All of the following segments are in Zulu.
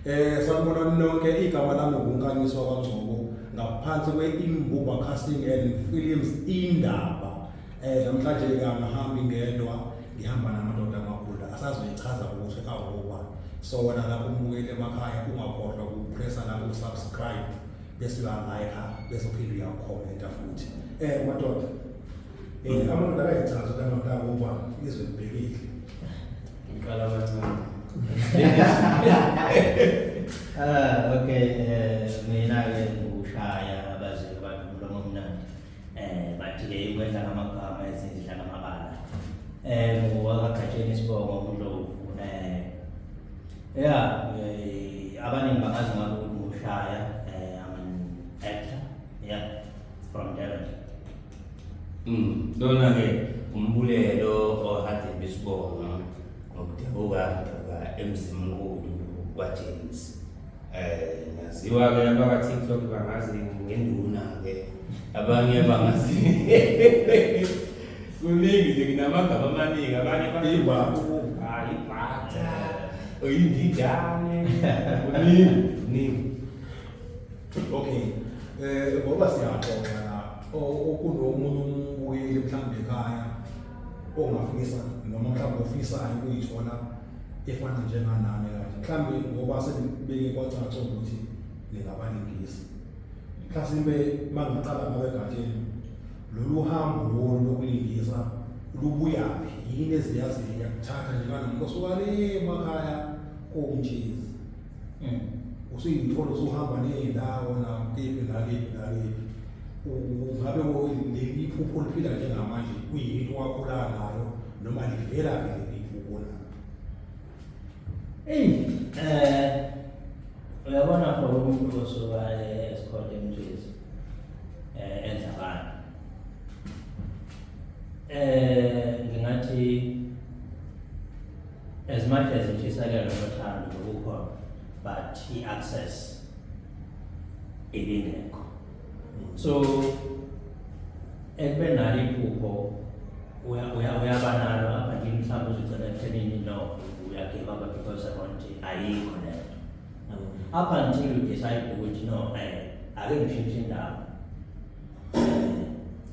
Eh sanibona nonke igama lami nguNkanyiswa kwaNgcobo ngaphansi kwe-Imbuba Casting and Films indaba. Eh namhlanje ke angihambi ngedwa ngihamba namadoda amakhulu asazoyichaza ukuthi awoba. So wena lapho umbukeli emakhaya ungakhohlwa ukupressa lapho usubscribe bese uya-like bese uphinde uyakhomenta futhi. Eh madoda Eh, abantu akayichazi ukuthi amadoda abo ubani izwe libhekile. Ngiqala kancane. Ah, okay, eh mina ke ngikushaya abazi abantu umlomo omnandi. Eh bathi ke ikwedla ngamagama ezindla ngamabala. Eh ngowakagajeni isibongo uNdlovu. Eh yeah, eh, abaningi bangazi ngabe ukuthi ngushaya eh I'm an actor. Yeah, from Durban. Mm, lona-ke umbulelo ohade besibona ngokudabuka kudabuka emzimkhulu kwajames um naziwa-ke abakatiktok bangazi ngenduna-ke abanye bangazi kuningi nje nginamagama amaningi abanye bayiwakuba ibhatha oyindidane kuningi kuningi okay eh ngoba siyaxoxa la okunomunye umbuyeli mhlawumbe ekhaya ongafisa noma mhlawumbe ofisayo ukuyithola efana njenganami kanje mhlawumbe ngoba senibeke kwacaca ukuthi ningabalingisi mhlasimbe mangiqala ngabegatsheni lolu hambo lolu lokulingisa lubuyaphi yini eziyaziyo yakuthatha njenganomkosukane emakhaya komtshezi mm. usuyithola usuhamba ney'ndawo nakiphi nakiphi nakiphi ungabe leli phupho liphila njengamanje kuyinto wakhula nayo noma livela ke leli phupho nayo eyi um uyabona for umuntu osuka esikhonde emjezi um eh, enza abantu um eh, ngingathi As much as intshisekelo nothando lokukhona but i-access ibingekho. So ekube nalo iphupho uyaba nalo apha nje mhlawumbe uzogcina ekuthenini no uyagive up because around ayikho le nto. Up until you decide ukuthi no um ake ngishintshe indawo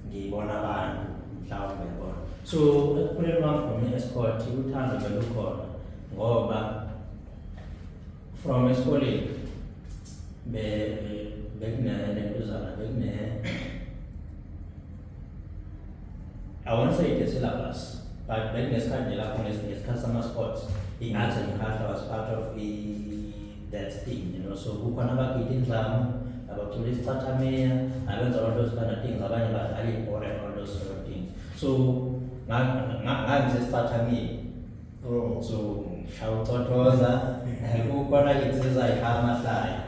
ngiyibona abantu mhlawumbe yabona so ekuphuleni kwami from i-esport uthando belukhona ngoba from esikoleni bekunentuzana bekune I won't say the syllabus, but bekunesikhathi nje lapho ngesikhathi sama-sports ingathi ngikhahlwa was part of i that thing you know so kukhona abagida indlamu abacula isicathamia abenza all those kind of things abanye badlala ibhola and all those sort of things so ngangisesicathamia oh. so shaya ucothoza kukhona insizwa ayishaya amahlaya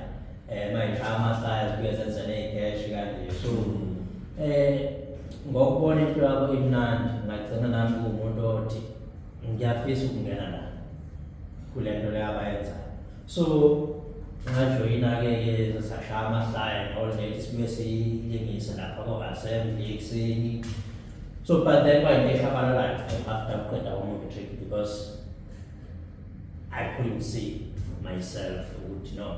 um ayishaya amahlaya zibuye zenze ney'keshi kanje so um ngokubona into yabo imnandi ngagcina nami kuwumuntu othi ngiyafisa ukungena la kule nto le abayenza so ngajoyina-ke ke sashaya amahlaya all that sibuye silingise lapha ko-assembly ekuseni so but then kwayinto eshabalalayo after kuqeda umatric because i couldn't see myself ukuthi no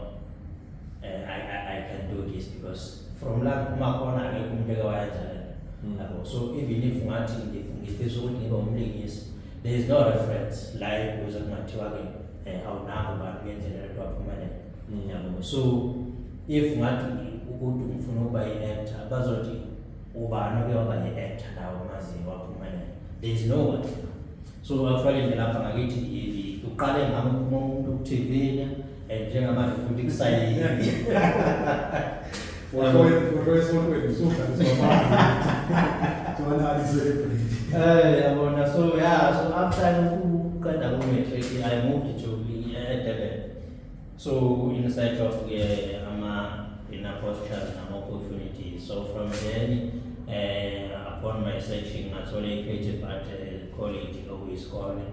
uh, I, I, I can do this because from la kuphuma khona akekho umuntu eke wayenza le nto Mm. yabo so even if ungathi ngif- ngifisa ukuthi ngibe umlingisi there is no reference la ekuze kungathiwa-ke um awunabo bantu ngendlela lento waphumelela Mm. yabo so if ngathi ukuthi ngifuna ukuba yi-actor bazothi ubani oke waba yi-actor nawo maziyo waphumelela there is no one So actually nje lapha ngakithi i- uqale ngami uphuma umuntu kuthivile and njengamanje futhi kusayini. Eh yabona so yeah so after ukuqeda ku matric I moved to eh, Durban. So in search of uh, ama in postures and opportunities. So from then uh, upon my searching ngathola i-creative art uh, college okuyisikole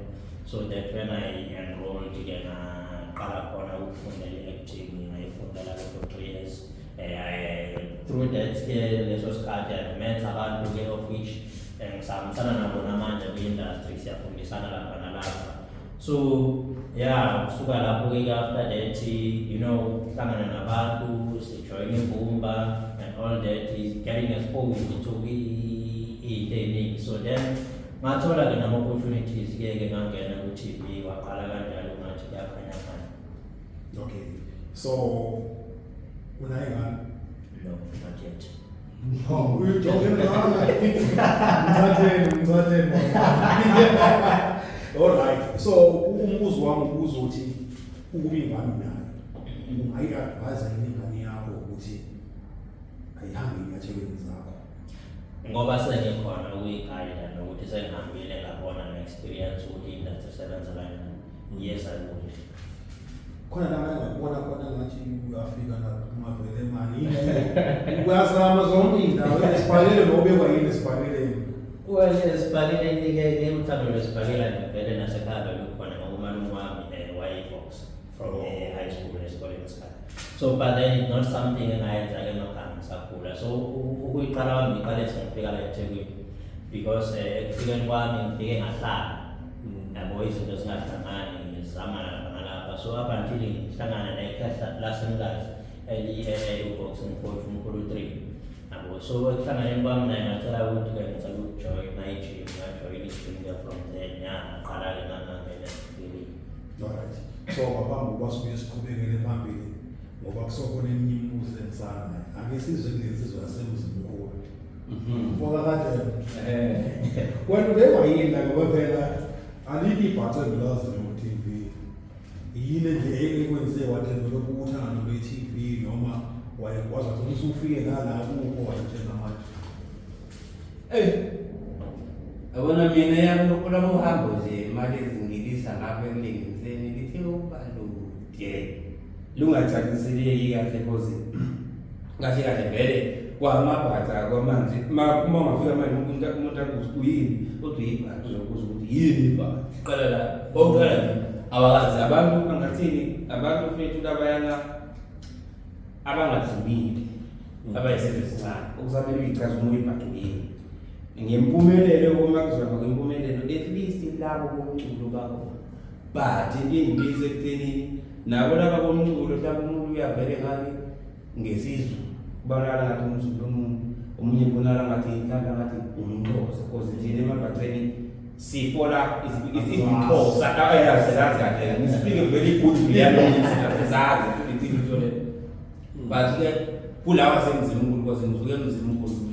so that when I enrolled ke ngaqala khona ukufundela i-acting ngayifundela for three years uh, I, through that ke leso sikhathi I met abantu ke of which eh, ngisahambisana nabo namanje kwi-industry siyafundisana lapha nalapha so ya kusuka lapho ke after that you know hlangana nabantu sijoyina imbumba and all that is getting exposed to into eningi so then ngathola ke nama-opportunities ke ke ngangena ku-tv waqala kanjalo ngathi kuyakhanyafana okay so unayingane no not yet Oh, we were talking about like mthatheni mthatheni all right so umbuzo wami ubuza ukuthi ukuba ingane nayo ungayi-advise yini ingane yakho ukuthi ayihambe enyathelweni zakho ngoba sengikhona ukuyigayida nokuthi sengihambile ngabona nge-experience ukuthi industry isebenza kanjani yes i would khona la manje ngibona khona ngathi uyafika la ungavele mani uyazama zonke indawo esibhalele nobekwa yini esibhaleleni well esibhaleleni ke ke mthando lesibhalela ngivele nasekhaya lokukhona ngokumalume wami eh, wayefox from oh. eh, high school esikoleni esikhathi so but then it's not something engayenza ke magama sakhula so ukuyiqala wami ngiqale sengifika la ethekwini because eh, ekufikeni kwami ngifike ngahlala nabo izinto zingahlangani ngizama lapha nalapha so up until ngihlangana nekhehla lasemkazi eliyi-boxing coach umkhulu three nabo so ekuhlanganeni kwami naye ngacela ukuthi ke ngicela ukujoyina ijim ngajoyina ijim ke from then ya ngaqala-ke ngangangena empilini right so babamba uba sibuye siqhubekele phambili ngoba kusokhona eminye imibuzo ensana ake sizwe kulensizwa yasemzimkhulu Mhm. Ngoba kade Eh. wena ubekwa yini la ngoba phela alikho ibhaca engilaziyo ku-TV. Yini nje ekwenze wathi lokhu ukuthanda nokwe-TV noma wayekwazi ukuthi usufike nala kuko wayetshena manje. Ey. Yabona mina yami olwami uhambo nje imali ezingilisa ngapha emlingiseni lithe ukuba lude. lungacaciseleki kahle cause kahle kahle vele kwamabhatha kwamanzi uma uma ungafika manje umuntu umuntu akuthi uyini kodwa yibhatha uzokuza ukuthi yini ibhatha qala la oqala nje awazi abantu angathini abantu fethu labayana abangadlulile mm. abayisizwe sincane okusamele uyicazumula ibhatha yini ngempumelelo uma kuzona kwempumelelo at least labo bomculo bakhona but ingibiza ekuthenini nabo laba komculo mhlawumbe umuntu uyavele ngathi ngesizwe kubonakala ngathi umzulu omuntu omunye kubonakala ngathi mhlawumbe ngathi umxhosa cause thina emabhaceni sifola izixhosa ayazi zazi kahle ngisipike very good ngiyalenza zazi futhi ngithole but ke kulawa senzima unkulunkulu ngisuke emzini unkulunkulu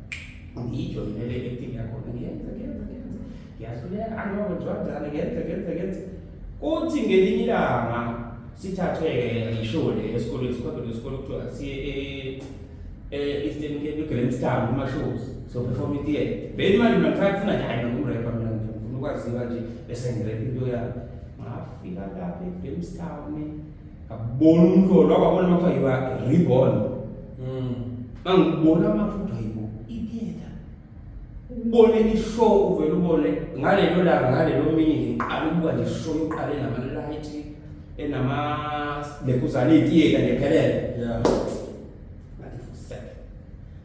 ngiyijoyinele i-acting yakhona ngiyenze ngiyenze ngiyenze ngiyahluleka angiba kwenziwa njani ngiyenze ngiyenze ngiyenze kuthi ngelinye ilanga sithathwe-ke ngisho le esikolweni sikhonto lesikole kuthiwa siye e-eastern cape egrandstown kumashows soperform itiye beni manje mina ngisake funa nje hayi nokumrepa mina nje ngifuna ukwaziwa nje bese ngirepa into yami ngafika lapha egrandstown ngabona umhlolo wabona makuthiwa yiba reborn mm. mangibona amafuthi ayibo itheater ubone ishow uvele ubone ngalelo langa ngalelo mini ngiqala ukubuka nje ishow yoqale namalight enama lekuzane itheater ngephelele yeah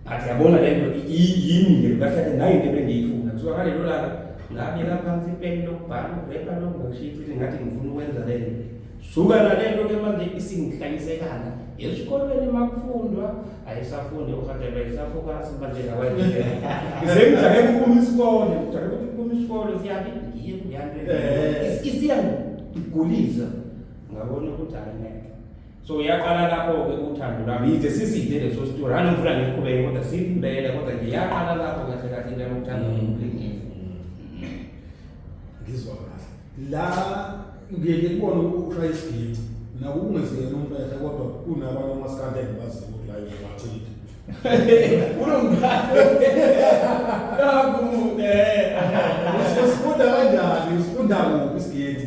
Athi yabona le nto yini le kahle kahle nayo into ebengiyifuna. Kuthiwa ngalelo langa ngabeka phansi ipeni lokubhala urepa lokungashiyithi ngathi ngifuna ukwenza le nto. Suka nale nto ke manje isingihlayisekana. Esikolweni makufundwa ayisafundi uRhatebe isafokasi manje ngakwaNdlela. Sengijahe kuphuma isikole, ngijahe ukuthi kuphuma isikole siyabi ngiye kuyanto. Isiya ngigulisa. Ngabona ukuthi hayi ngeke. so yaqala lapho-ke uthando lwami yize siside leso sitori anongifuna ngiqhubeke kodwa sibulele kodwa nje yaqala lapho kahle kahle into yamkuthanda mm. umlingisi ngizwa kahle la ngiye ngikubone ushaya isiginci naku kungeziyena umfehla kodwa kunabanye omasikandi engibaziyo ukuthi layo ngibachitha usifunda kanjani usifunda kuphi isiginci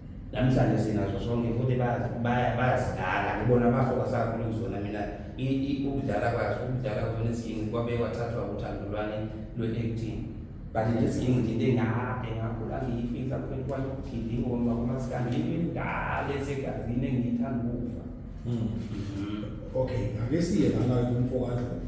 namhlanje sinazo sonke futhi bayazidala ngibona abafo kwasakhulu kuzona mina ukudlala kwazo ukudlala kuzona izingi kwabe kwathathwa uthando lwani lwe-acting but nje izingi nje into engade ngakhula ngiyifisa kuphela kwanye ukugida ingoma kumasikandi into endala esegazini engiyithanda ukufa hmm. okay ake siye lana kumfo kadlovu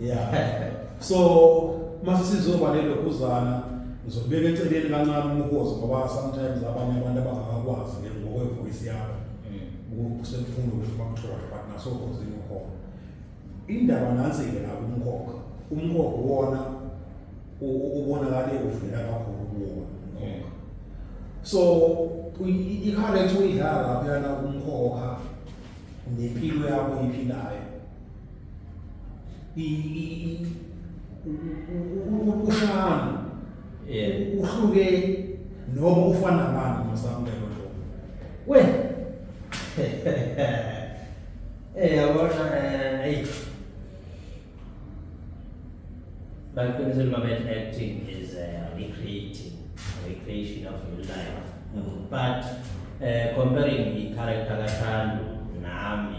yeah so mase sizoba lelo kuzana ngizobeka eceleni kancane umkhosi ngoba sometimes abanye abantu abangakwazi ke ngokwe voice yakho mm. usemfundo ukuthi bakuthole but naso khosi umkhokha indaba nansi ke la umkhokha umkhokha wona ubonakale uvela kakhulu kuwona umkhokha so ikharethe uyidlala lapha yana umkhokha nempilo yakho iphilayo ushanu eh. uhluke noma ufana nabani masamlelo lo we eh yabona eh hey baqinisele uma bethi acting is uh, recreating recreation of your life mm. but uh, comparing i-character kathando nami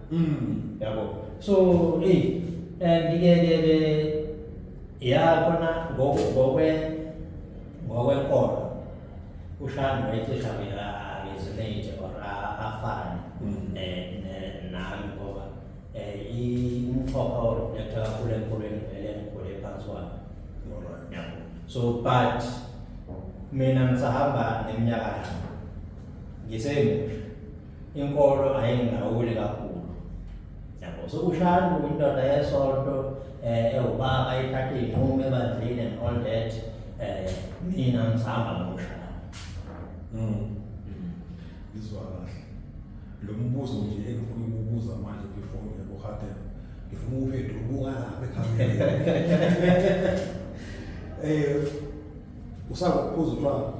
Mm, yabo. So, eh eh ngike ke ya khona ngokwe ngokwenkolo ushani wayecisha mina ngezinete or afane mm. eh nami ngoba eh umxhopa or yakuthatha kakhulu enkolweni vele ngikhule phansi wami. Yabo. So but mina ngisahamba neminyaka ngisemusha inkolo ayingilawuli kakhulu yabo sokushaya indoda yesonto eh, ewubaba ithathe iy'nqumo ebandleni and all that eh, mina ngisahamba nokushaya mm. ngizwa kahle lo mbuzo nje engifuna ukubuza manje before ngiye kuhadela ngifuna ukuphetha ubuka lapha ekhamereni um eh, usakuphuza utshwala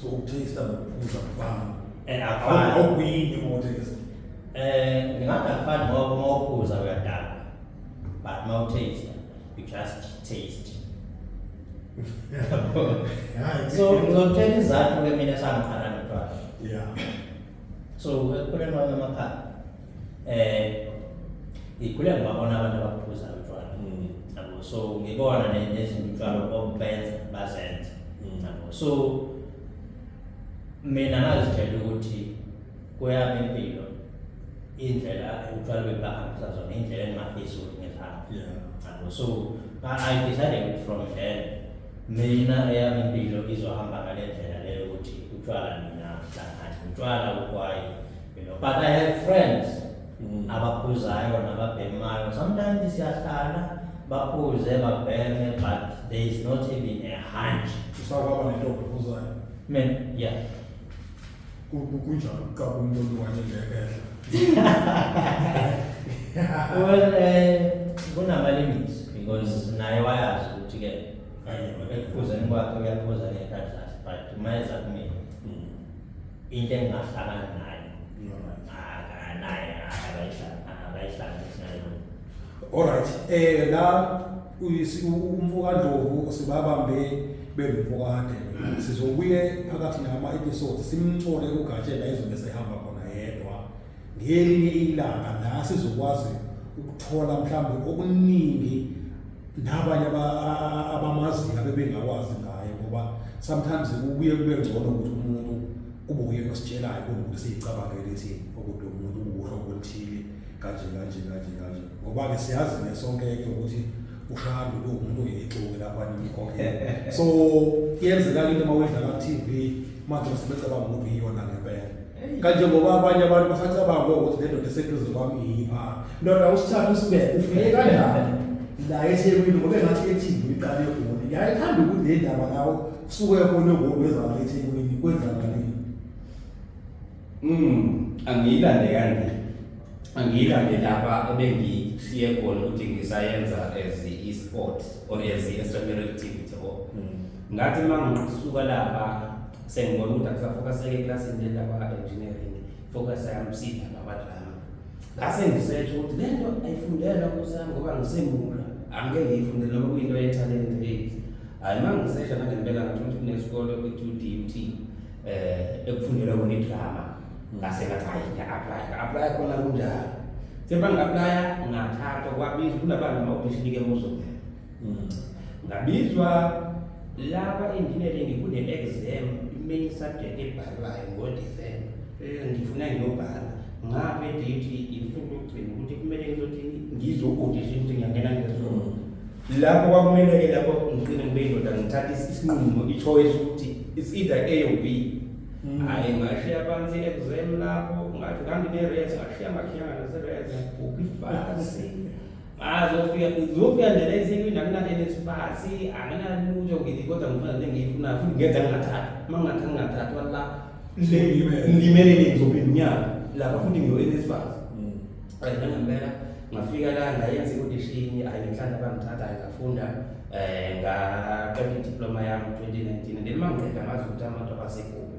so ukuthengisela ngokuphuza kufana and akufani awukuyini uma uthengisa eh ngingathi akufani ngoba uma uphuza uyadala but uma utaste you just taste so ngizokutshela izathu ke mina sangiqala notwala yeah so kukhona amanye amakhaya eh ngikhule ngibabona abantu abaphuza utshwala mm. yabo so ngibona nezinto utshwala obenza bazenza mm. yabo so mina ngazitshela ukuthi kweyami impilo indlela utshwala bebahambisa zona indlela engingafisi ukuthi ngizihamba yabo so i decided from then mina eyami impilo izohamba ngale ndlela leyo ukuthi utshwala mina hlangani utshwala ukwayi you know but i have friends mm. abaphuzayo nababhemayo sometimes siyahlala baphuze babheme but there is not even a hunch usakwaba nento ophuzayo men yeah kunjalo uqaba umuntu olungane ngekehla well eh kunama limits because naye wayazi ukuthi ke ekuphuza kwakhe uyaphuza ngekadlasi but uma eza kumina into engingahlangana nayo akanaye akayihlanganisi nayo alright eh la umfokandlovu sibabambe bengumfokade sizobuye phakathi nama episode simthole ugatshela izobe sehamba khona yedwa ngelinye ilanga la sizokwazi ukuthola mhlawumbe okuningi nabanye abamaziyo abebengakwazi ngaye ngoba sometimes kubuye kube ngcono ukuthi umuntu kube uyena ositshelayo kunokuthi siyicabangele ithi okude umuntu uwuhlo oluthile kanje kanje kanje kanje ngoba-ke siyazi-ke sonke-ke ukuthi ushaya lo umuntu oyixuke lapha nimkhokhele so kuyenzeka into uma wedlala ku-tv manje sebecabanga ukuthi iyona ngempela kanjengoba abanye abantu basacabanga ukuthi le ndoda eseduze kwami yipha ndoda usithatha usibeke ufike kanjani la ethekwini ngoba engathi ethini iqala egoli yayithanda ukuthi le ndaba lawo kusuke khona egoli wezala ethekwini kwenzakalini mm angiyilande kanje angiyilande lapha ebengisiye khona ukuthi ngisayenza as i-sport or as i-extramural activity or mm. ngathi uma ngisuka lapha sengibona ukuthi akusafokaseke eklasini lenda kwa-engineering focus yami sida babadrama ngase ngisetsho ukuthi le nto ayifundelwa kusami ngoba ngisemula angike ngiyifundele noma kuyinto yethalente lezi hhayi uma ngisesha nangempela ngathi ukuthi kunesikole kwi-two d u t um eh, ekufundelwa kona idrama ngase ngathi hayi ngiya-aplya nga-aplya khona kunjalo sebangi-aplya ngathathwa kwabiza kunabani ma-audition-ke muzongena Hmm. ngabizwa laba enginele ngikune-exam i-main subject ebhalwayo ngodecember eh, ngifuna ngiyobhala ngabe date insuku yokugcina ukuthi kumele ngizothi ngizokodisha ukuthi ngiyangena ngesona hmm. lapho kwakumele-ke lapho ngigcine ngibe indoda ngithathe isinqumo i-choice ukuthi it's either a or b hmm. hhayi ngashiya phansi i-exam lapho ngathi ngangine-res ngashiya ngakhiyanga nase-res ngibhubha ibhasi azofika zofika nje la eThekwini akunanenesibazi anginalutho ngithi kodwa ngifuna le engiyifunayo futhi ngenza ngingathathi uma ngingathathi ngingathathi wala ngilimele le ngizophinda unyaka lapha futhi ngiyo-enesbazi right nangempela ngafika la ngayenza ikudishini ayi ngihlala bangithatha ayi ngafunda um ngaqeda idiploma yami 2019 and then uma ngiqeda ngazi ukuthi amadoba asekhona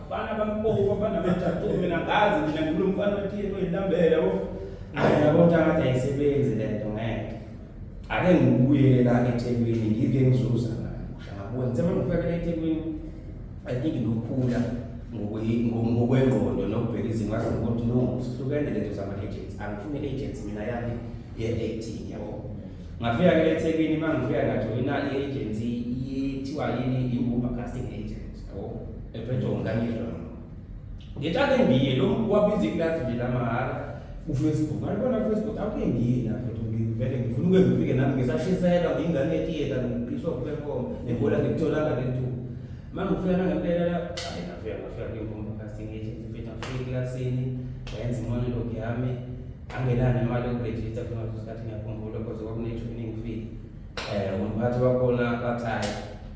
Bana bampoka bana bajaqo mina ngazi mina ngilo mfana othile oyilambele wo. Hayi yabo tata isebenzi lento ngeke. Ake ngibuye la eThekwini ngike ngizuza ngani. Ushabuya ngithe mangifakele eThekwini I think ngiyokhula ngokwengqondo nokubheka izinto wazi ukuthi no sihlukene lento zama agents angifuni agents mina yami ye acting yabo. Ngafika ke eThekwini mangifika ngathola i agency ithiwa yini i-Uber casting agent. ephethongo ngangidla ngithathe ngiye lo wabiza iklasi nje lamahhala ufacebook alibona ufacebook akuke ngiye lapho ngivele ngifuna uke ngifike nami ngisashiselwa ngiyingane yetiyeta ngiqiswa kuperform nebhola ngikutholanga le ntuba uma ngifika nangempela la ayi ngafika ngafika kwinkomba kasingile ngifika ngifika eklasini ngayenza imonolog yami angenani imali yokurejista funa ngesikhathi ngiyakhumbula kodwa kwakunethu iningifike um umphathi wakhona bathayi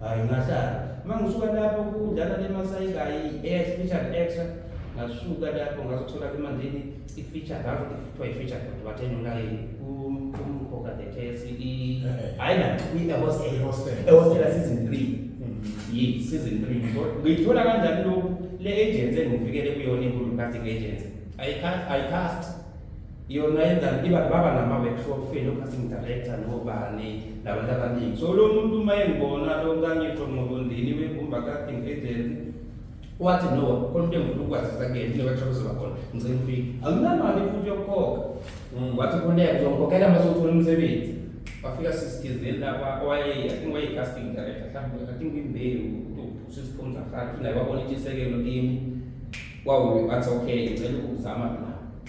Hayi ngahlala. Uma ngisuka lapho kudlala le masayikayi air featured extra ngasuka lapho ngazothola emandleni i-feature ngakho kuthiwa i-feature kodwa bathe nonayini umkhokha the KSE hayi na kwi-hostel ehostela season three yi season three ngiyithola kanjani lokhu le agency engifikele kuyona inkulu casting agency ayicast yona yenzani iba baba nama-workshop feni o-casting director nobani nabantu abaningi so lo muntu uma engibona lo ntangisho nqobondini wegumba casting agency wathi no khona into engifuna ukwazisa kuyena ine-workshop ezoba khona ngicela ufike anginamali futhi yokukhokha mm. wathi khoneka uzongikhokhela uma sewuthola umsebenzi wafika sisithizeni laba owaye i think waye-casting director mhlawumbe i think imbewu usisiphumza fana futhi naye wabona intshisekelo kimi wawu athi okay ngicela ukuzama la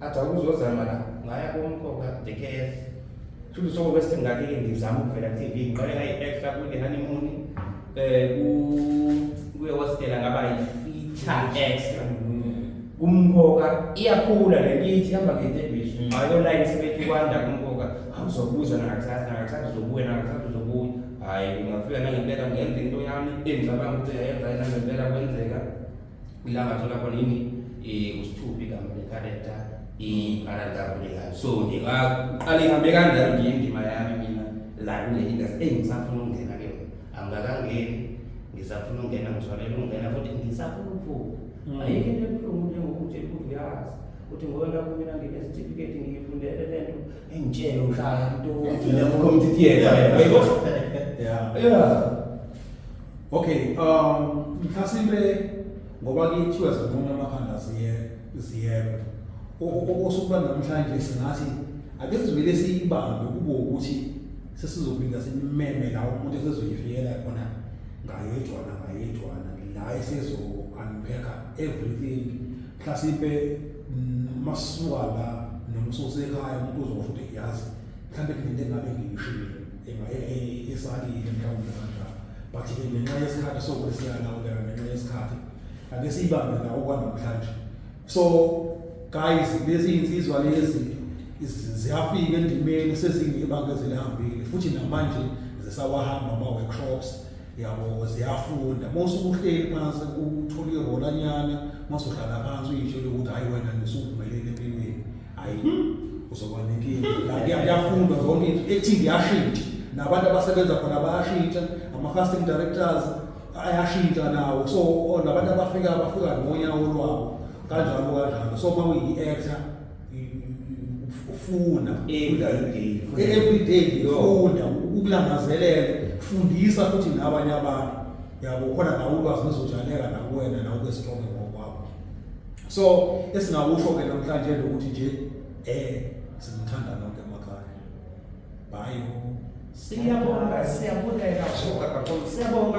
athi awuzozama la ngaya komkhokha the case futhi soko bese ngakike ngizama ukuvela ku TV ngiqale ngayi extra ku the honeymoon eh ku kuye wasitela ngaba yi feature extra kumkhokha iyakhula le ngithi ihamba ngetebiso ayo la isebenzi kwanda kumkhokha awuzobuza nakakusasa nakakusasa uzobuya nakakusasa uzobuya hayi ungafika nangempela ngenza into yami engicabanga ukuthi yayenza yena ngempela kwenzeka Ila ngathola khona yini eh usithupha igama le character i-character abulekayo. So nje ngaqala ihambe kanjalo nje indima yami mina la kule industry engisafuna ukungena ke yona. Angikakangeni ngisafuna ukungena ngithwalele ukungena futhi ngisafuna ukuvuka. Mm. Ayikho into ebuhlungu njengokuthi ukuthi uyazi ukuthi ngoba lapho mina nginesitifiketi ngiyifundele le nto engitshele uhlala into Ngiyamukhomthithiyela. Yeah. Yeah. Okay, um mhlasimbe ngoba kuthiwa zinqomo amakhanda ziye ziyebe. Okusukuba namhlanje singathi ake sizivele siyibambe kube ukuthi sesizophinda simeme la umuntu esezoyifikela khona ngayedwana ngayedwana la esezo unpack everything mhlasimbe masuka la noma ususekhaya umuntu uzosho ukuthi yazi mhlawumbe kunento engabe ngiyishilo esalile mhlawumbe kanjalo but ke ngenxa yesikhathi sokuthi siyanawuleka ngenxa yesikhathi ake siyibambe la okwanamhlanje so guys lezi insizwa lezi ziyafika endimeni sezingebanga ezilihambile futhi namanje zisawahamba ama-workshops yabo ziyafunda uma usukuhleli phansi uthole irolanyana uma usuhlala phansi uyitshele ukuthi hhayi wena nisuvumeleni empilweni hayi uzoba nenkinga la kuya- kuyafundwa zonke into ethi ngiyashintsha nabantu abasebenza khona bayashintsha ama-casting directors ayashintsha nawo so o- nabantu abafika bafika ngonyawo lwabo kanjalo kanjalo so uma uyi-actor i- i- uf- ufunda Every day. every day Yo. ufunda ukulangazelela fundisa futhi nabanye abantu yabo khona nawe ulwazi luzojaleka nakuwena nawe ube strong ngokwakho so esingakusho ke namhlanje ukuthi nje eh simthanda nonke emakhaya bye siyabonga siyabonga kakhulu siyabonga